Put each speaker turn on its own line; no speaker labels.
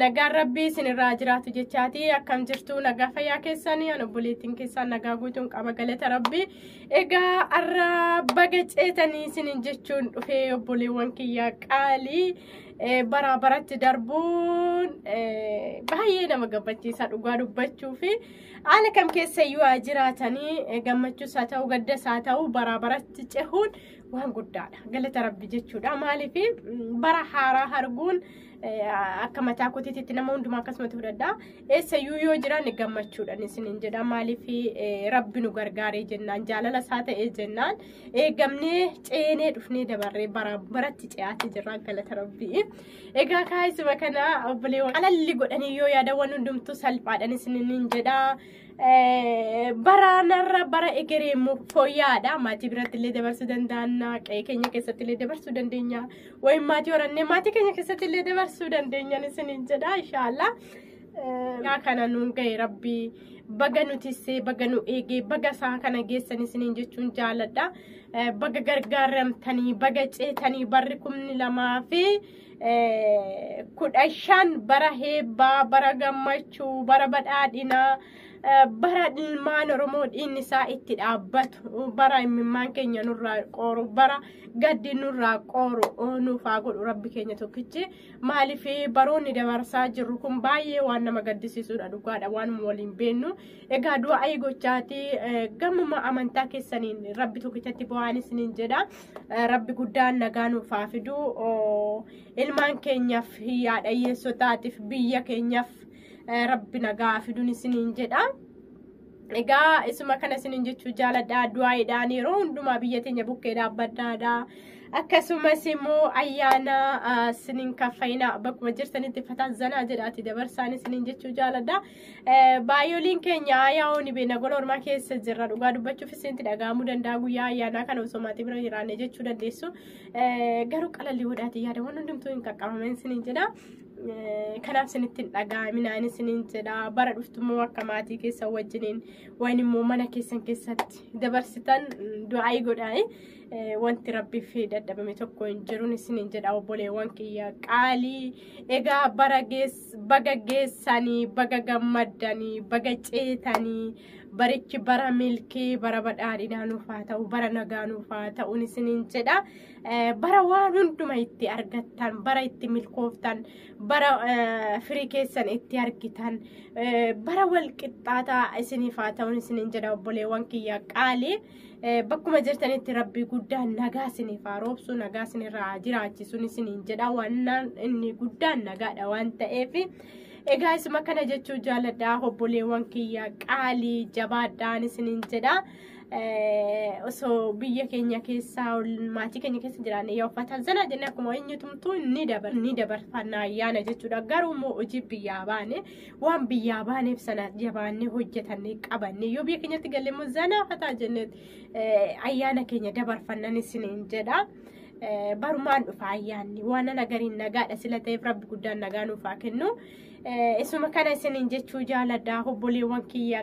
Nagaan rabbii isinirraa jiraatu jechaati akkam jirtu nagaa fayyaa keessanii an obboleettiin keessaan nagaa guutuun qaba galata rabbii egaa arra baga ceetanii isinin jechuun dhufee obboleewwan kiyyaa qaalii baraa baratti darbuun baay'ee nama gammachiisa dhugaa dubbachuu fi haala kam keessa iyyuu haa jiraatanii gammachuus haa ta'u gaddas haa ta'u baraa baratti cehuun waan guddaadha galata rabbi jechuudha maaliif bara haaraa arguun akka mataa kootiitti nama hundumaa akkasumatti fudhadha. Eessayyuu yoo jiraanne gammachuudhaan isiniin jedha. Maaliif rabbi nu gargaaree jennaan jaalala isaa ta'ee jennaan eegamnee ceenee dhufnee dabarree bara baratti ce'aatti jirra galata rabbii. Egaa kaayisuma kana obboleewwan alalli godhanii yoo yaadawan hundumtuu salphaadhaan isiniin jedha. baraanarra bara egeree immoo fooyya'aadha. Maatii biratti illee dabarsuu dandaanna. Qe'ee keenya keessatti illee dabarsuu dandeenya. Wayim maatii horannee maatii keenya keessatti illee dabarsuu dandeenya isiniin jedha inshaallah. Yaa kana nuun ga'e rabbii baga nu tissee baga nu eegee baga isaa kana geessan isiniin jechuun jaaladha. Baga gargaaramtanii baga ceetanii barri kumni lamaa fi kudha shan bara heebbaa bara gammachuu bara badhaadhinaa bara ilmaan oromoo dhiinni isaa itti dhaabbatu bara imimmaan keenya nurraa qooru bara gaddi nurraa qooru nuuf haa godhu rabbi keenya tokkichi maaliif baroonni dabarsaa jirru kun baay'ee waan nama gaddisiisudha dhugaadha waan waliin beennu egaa du'aa gochaa gammuma amantaa keessaniin rabbi tokkichatti bu'aan isiniin jedha. rabbi guddaan nagaa nuuf haa fiduu ilmaan keenyaaf yaada hiyyeessotaatiif biyya keenyaaf rabbi nagaa haa fiduun isiniin jedha. Egaa isuma kana isiniin jechuu jaaladha du'aayiidhaan yeroo hundumaa biyya teenya bukkee dhaabbadhaadha. Akkasumas immoo ayyaana isiniin kaffayina bakkuma jirtanitti fataa zanaa jedhaati dabarsaan isiniin jechuu jaaladha. Baay'ooliin keenya aayaa ooni beena gola ormaa keessa jirra dhugaa dubbachuuf isinti dhaga'amuu danda'a guyyaa ayyaanaa kana osoo maatii bira jiraanne jechuu dandeessu garuu qalallii godhaatii yaada waan hundumtuu hin qaqqabameen isiniin jedha. Kanaaf isinitti hin dhaga'aminaan isiniin jedha bara dhuftummoo akka maatii keessa wajjiniin waan immoo mana keessan keessatti dabarsitan du'aayii godhaani. wanti rabbiif dadhabame tokko hin jiruun isiniin jedha obboleewwan kiyya qaalii egaa bara geessa. baga geessanii baga gammaddanii baga ceetanii barichi bara milkii bara badhaadhinaa nuuf haa ta'u bara nagaa nuuf haa ta'u isiniin jedha Eh, bara waan hunduma itti argattan bara itti milkooftan bara eh, firii keessan itti argitan eh, bara wal qixxaataa isiniif haa ta'u isiniin jedha obboleewwan kiyya qaalii bakkuma jirtanitti rabbii guddaan nagaa isiniif haa roobsu nagaa isinirraa haa jiraachisu isiniin jedha wannaan inni guddaan nagaadha waan ta'eef egaa isuma kana jechuu jaaladha obboleewwan kiyya qaalii jabaadhaan isiniin jedha osoo biyya keenya keessaa maatii keenya keessa jiraanne yoo uffatan sana jennee akkuma eenyutumtuu ni dabarfanna ayyaana jechuudha garuu immoo hojii biyyaa baane waan biyyaa baaneef sana jabaannee hojjetannee qabannee yoo biyya keenyatti galle immoo zanaa fataa jennee ayyaana keenya dabarfannan isiniin jedha. Barumaan dhufa ayyaanni waan ana gariin nagaadha sila ta'eef rabbi guddaan nagaa nuuf haa kennu. Isuma kana isiniin jechuu jaaladha obboleewwan kiyya.